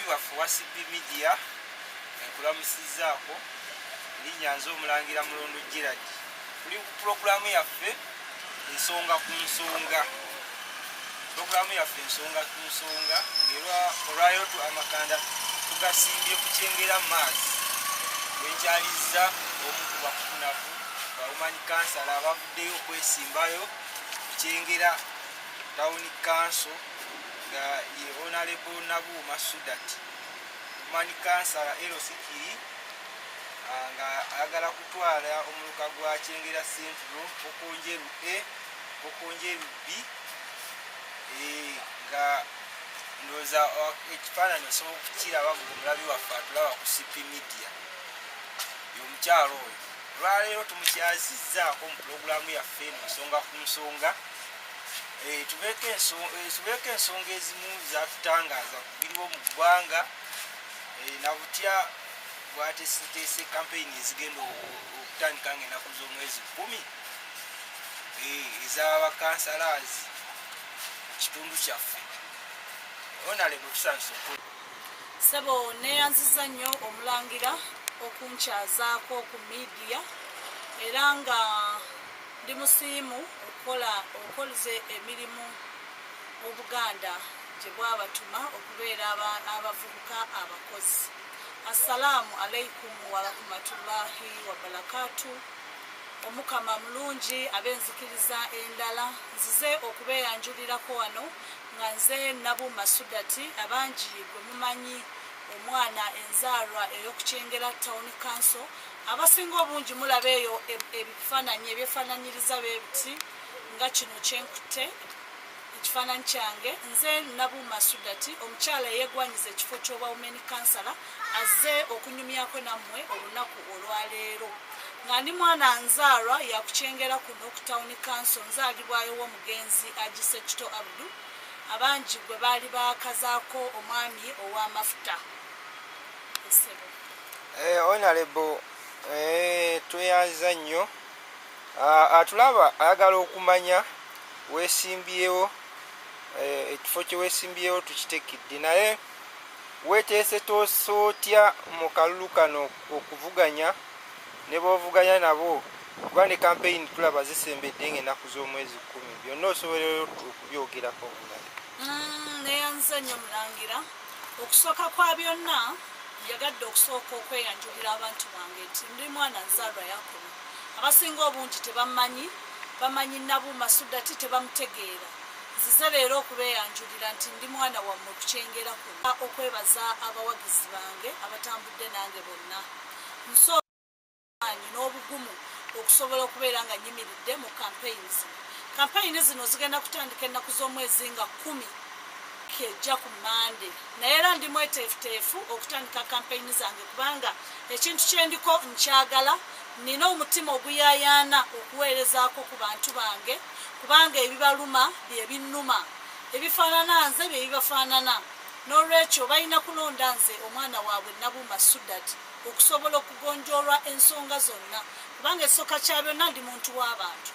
waffe wacb media enkulamusizaako linya nze omulangira mulondo giradi tuli ku pulogulaamu yaffe ensonga ku nsonga pulogulaamu yaffe ensonga ku nsonga ngaera olwaliro tu amakanda tugasimbye ku kyengera maazi wekyalizza omu ku bakunaku bawumanyi kansala abavuddeyo okwesimbayo ku kyengera tawuni kanso nga ye onalebo nabuuma sudat omani kansala lc kiri ah, nga ayagala kutwala omuluka gwa kyengera centro okonjeru a okonjeru b eh, nga ndoza oh, ekifaananyi osobola okukiraba nga omulabi waffe atulaba ku cp media yomukyalo oyo olwaleero tumukyazizzaako mu pulogulaamu yaffe eno nsonga ku nsonga Eh, tubeeko eh, ensonga ezimu zatutangaaza kubiriwo mu ggwanga eh, nabutya bwateseteese kampeyini ezigenda okutandika nga enaku z'omwezi kumi ezabakansalazi kitundu kyaffe onalebo tusanisa okul sebo neyanziza nnyo omulangira okunkyazaako ku midiya era nga Ndi musiimu okukola okolze emirimu Obuganda gye bwabatuma okubeera aba abavubuka abakozi. Assalaamu Alaikum Warahumatulahi Wabalakatu Omukama mulungi ab'enzikiriza endala. Nzize okubeeyanjulirako wano nga nze Nabu Masudati abangi gwe mumanyi omwana enzaalwa ey'oku Kyengera Town Council. abasinga obungi mulaba eyo e, ebifaananyi ebyefaananyiriza bebiti nga kino kyenkutte ekifaananyi kyange nze nabuuma sudati omukyala eyegwanyiza ekifo ky'oba wumeni kansala azze okunyumyako nammwe olunaku olwaleero nga ndi mwana nzaalwa yakukyengera kuno ku tawuni kanso nzaalibwayo w'omugenzi agise kito abdu abangi gwe baali baakazaako omwami ow'amafuta Eh, onalebo eh, tweyanza nnyo ah, atulaba ayagala okumanya wesimbyewo eh, ekifo kyewesimbyewo tukitekidde naye weteese toosa otya mu kalulu kano okuvuganya ne bovuganya nabo kuba ne kampeyini tulaba zisembedde nga enaku z'omwezi kumi byonna osobola okubyogerako mm, neyanza nnyo mulangira okusooka kwa byonna yagadde okusooka okweyanjulira abantu bange nti ndi mwana nzaalwa yakobo abasinga obungi tebammanyi bamanyi nabuuma sudati tebamutegeera nzize leero okubeeyanjulira nti ndi mwana wammwe okukyengera kuno okwebaza abawagizi bange abatambudde nange bonna amaanyi n'obugumu okusobola okubeera nga nyimiridde mu kampeyini zino kampeyini zino zigenda kutandika ennaku z'omwezi nga kumi kejja ku mande naye era ndi mweteefuteefu okutandika kampeyini zange kubanga ekintu kyendiko nkyagala nina omutima oguyayaana okuweerezaako ku bantu bange kubanga ebibaluma bye binnuma ebifaanana nze bye bibafaanana n'olwekyo balina kulonda nze omwana waabwe nabuuma sudati okusobola okugonjoolwa ensonga zonna kubanga ekisoka kya byonna ndi muntu w'abantu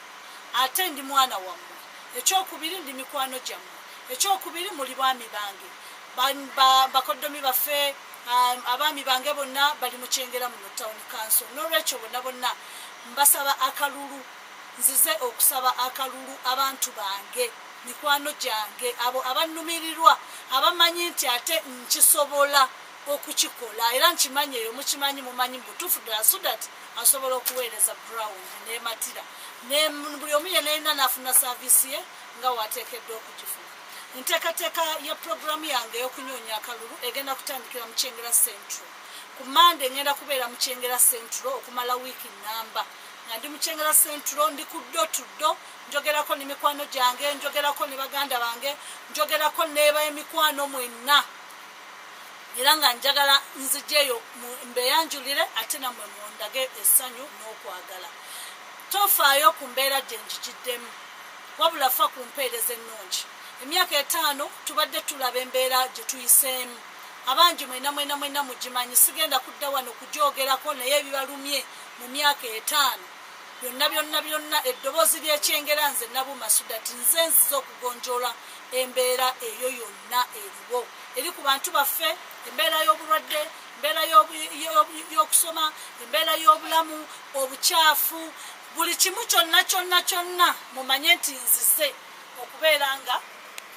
ate ndi mwana wammwe ekyokubiri ndi mikwano gyammwe ekyokubiri muli baami bange bakoddomi baffe um, abaami bange bonna bali mu kyengera muno tawuni kanso n'olwekyo bonna bonna mbasaba akalulu nzize okusaba akalulu abantu bange mikwano gyange abo abannumirirwa abamanyi nti ate nkisobola okukikola era nkimanyi eyo mukimanyi mumanyi mubutuufu ddala so that asobola okuweereza ground nematira buli omu yena yena nafuna saavisi ye nga wateekeddwa okugifuna enteekateeka ya puroguramu yange ey'okunyoonya akalulu egenda kutandikira mu kyengera central ku mande ngenda kubeera mu kyengera central okumala wiiki namba nga ndi mu kyengera central ndi ku ddo tuddo njogerako ne mikwano gyange njogerako ne baganda bange njogerako neeba emikwano mwenna era nga njagala nzijeyo mbeyanjulire ate namwe mundage essanyu n'okwagala tofaayo ku mbeera gye njigiddemu wabula fa ku mpeereza ennungi emyaka etaano tubadde tulaba embeera gye tuyiseemu abangi mwena mwena mwena mugimanyi sigenda kudda wano kugyogerako naye ebibalumye mu myaka etaano byonna byonna byonna eddoboozi ly'ekyengera nze nabuma sudati nze nziza okugonjoola embeera eyo yonna eri gwo eri ku bantu baffe embeera y'obulwadde embeera y'okusoma embeera y'obulamu obukyafu buli kimu kyonna kyonna kyonna mumanye nti nzize okubeera nga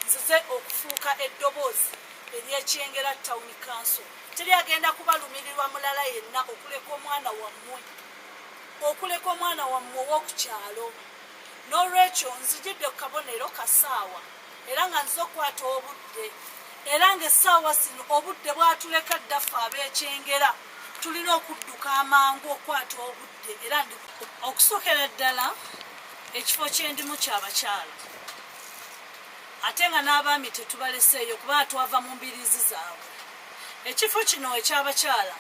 nzize okufuuka eddoboozi eryekyengera town council teri agenda kubalumirirwa mulala yenna okuleka omwana wammwe okuleka omwana wammwe ow'oku kyalo n'olwekyo nzijidde ku kabonero kasaawa era nga nzize okukwata obudde era nga essaawa zino obudde bwatuleka ddaffe abeekyengera tulina okudduka amangu okukwata obudde era ndi okusokera ddala ekifo kyendimu kyabakyala ate nga n'abaami tetubaleseeyo kuba twava mu mbiriizi zaabwe ekifo kino ekyabakyala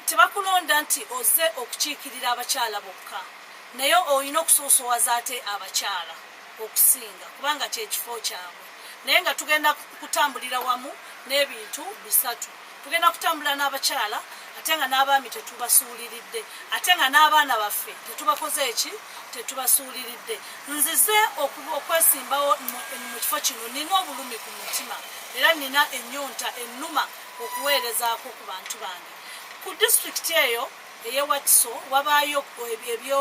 tebakulonda nti oze okukiikirira abakyala bokka naye olina okusoosowaza ate abakyala okusinga kubanga kyekifo kyabwe naye nga tugenda kutambulira wamu n'ebintu bisatu tugenda kutambula n'abakyala ate nga n'abaami tetubasuuliridde ate nga n'abaana baffe tetubakoze eki tetubasuuliridde nzize okwesimbawo mu kifo kino nina obulumi ku mutima era nina ennyonta ennuma okuweerezaako ku bantu bange ku disitulikiti eyo Eye Wakiso wabaayo ebyo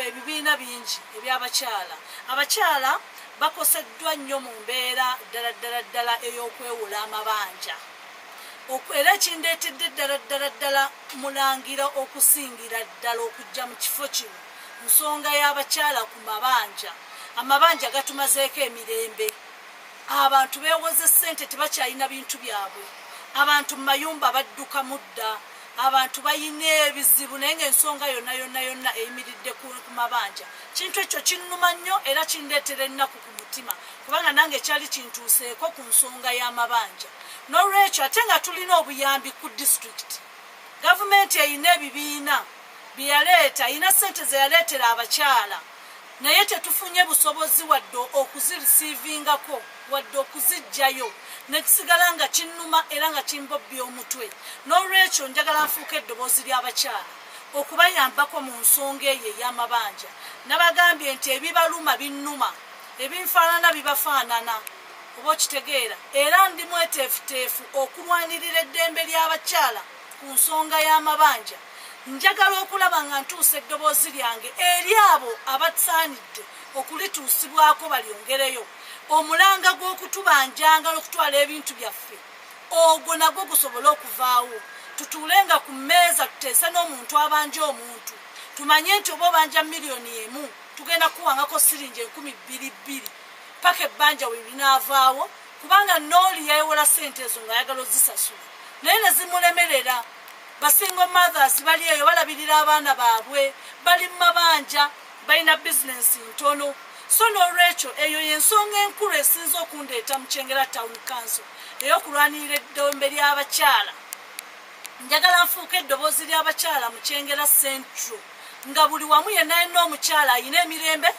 ebibiina bingi eby'abakyala. Abakyala bakoseddwa nnyo mu mbeera ddala ddala ddala ey'okwewola amabanja. Era ekindeetedde ddala ddala ddala mulangira okusingira ddala okujja mu kifo kino nsonga y'abakyala ku mabanja. Amabanja gatumazeeko emirembe. Abantu beewoze ssente tebakyalina bintu byabwe. Abantu mu mayumba badduka mudda. Abantu balina ebizibu naye ng'ensonga yonna yonna yonna eyimiridde ku mabanja. Kintu ekyo kinnuma nnyo era kindeetera ennaku ku mutima kubanga nange kyali kintuuseeko ku nsonga y'amabanja. N'olwekyo ate nga tulina obuyambi ku disitulikiti, gavumenti erina ebibiina bye yaleeta, erina ssente ze yaleetera abakyala. naye tetufunye busobozi wadde okuzirisivingako wadde okuzijjayo nekisigala nga kinnuma era nga kimbobbya omutwe n'olwekyo njagala nfuuka eddoboozi ly'abakyala okubayambako mu nsonga eyo ey'amabanja nabagambye nti ebibaluma binnuma ebinfaanana bibafaanana oba okitegeera era ndi mweteefuteefu okulwanirira eddembe ly'abakyala ku nsonga y'amabanja njagala okulaba nga ntuusa eddoboozi lyange eri abo abasaanidde okulituusibwako balyongereyo omulanga gw'okutubanjanga n'okutwala ebintu byaffe ogwo nagwo gusobole okuvaawo tutuule nga ku mmeeza tuteese n'omuntu abanja omuntu tumanye nti oba obanja miliyoni emu tugenda kuwangako siringi enkumi bbiri bbiri paka ebbanja we linaavaawo kubanga nooli yayiwola sente ezo nga ayagala ozisasula naye nezimulemerera basingo mothers bali eyo balabirira abaana baabwe bali mu mabanja balina bizinensi ntono so n'olwekyo eyo y'ensonga enkulu esinza okundeeta mu kyengera town council ey'okulwanirira eddombe ly'abakyala njagala nfuuka eddoboozi ly'abakyala mu kyengera central nga buli wamu yenna yenna omukyala alina emirembe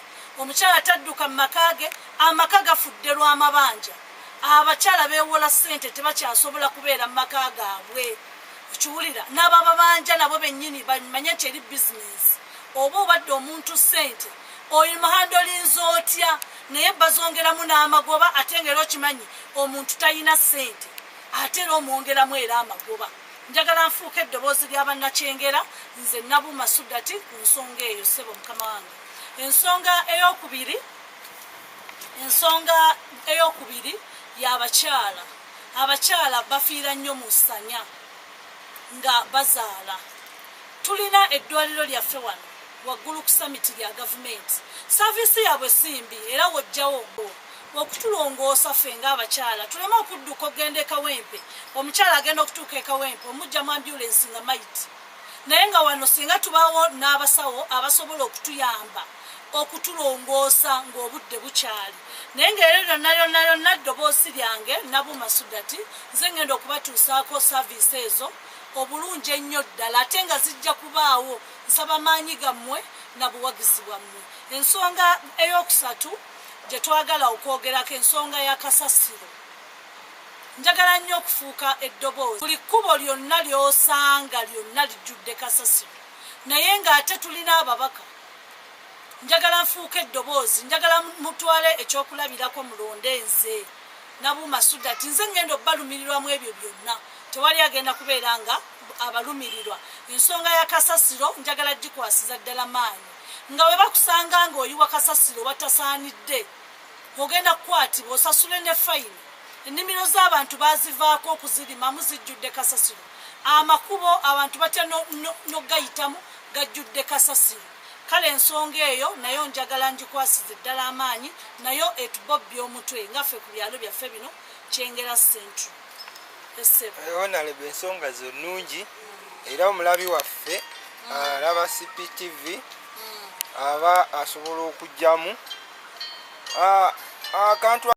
omukyala tadduka mu maka ge Amaka gafudde lwa mabanja, abakyala beewola ssente tebakyasobola kubeera mu maka gaabwe. Okiwulira? N'abababanja nabo bennyini bamanye nti eri bizinensi. Oba obadde omuntu ssente oimuhandolinza otya naye bazongeramu n'amagoba ate nga era okimanyi omuntu talina ssente ate era omwongeramu era amagoba. Njagala nfuuke eddoboozi lya bannakyengera nze Nabuuma Sudati ku nsonga eyo, ssebo mukama wange. Ensonga eyookubiri. ensonga eyokubiri yabakyala abakyala bafiira nnyo mu ssanya nga bazaala tulina eddwaliro lyaffe wano waggulu ku samiti lya gavumenti saviisi yaabwe simbi era wojjawo ogwo okutulongoosa ffe ngaabakyala tuleme okudduka okugenda ekawempe omukyala agenda okutuuka ekawempe omujja mu ambulensi nga maiti naye nga wano singa tubawo n'abasawo abasobola okutuyamba okutulongoosa ng'obudde bukyali naye ng'eryo lyonna lyonna lyonna ddoboosi lyange nabuuma sudati nze ngenda okubatuusaako saaviisi ezo obulungi ennyo ddala ate nga zijja kubaawo nsaba maanyi gammwe na buwagizi bwammwe ensonga ey'okusatu gye twagala okwogerako ensonga ya kasasiro njagala nnyo okufuuka eddoboozi buli kkubo lyonna ly'osanga lyonna lijjudde kasasiro naye ng'ate tulina ababaka njagala nfuuka eddoboozi njagala mutwale ekyokulabirako mulonde nze nabuuma sudati nze ngenda obalumirirwamu ebyo byonna tewali agenda kubeera nga abalumirirwa ensonga ya kasasiro njagala gikwasiza ddala maanyi nga we bakusanga nga oyiwa kasasiro batasaanidde ogenda kukwatibwa osasule ne fayini ennimiro z'abantu bazivaako okuzirimamu zijjudde kasasiro amakubo abantu batya nogayitamu no, no gajjudde kasasiro kale ensonga eyo nayo njagala njikwasize ddala amaanyi nayo etubobbya omutwe nga ffe ku byalo byaffe bino kyengera central onalebe eh, ensonga zo nungi era omulabi waffe mm. alaba ah, cptv mm. aba asobola okugyamu ah, akantu ah,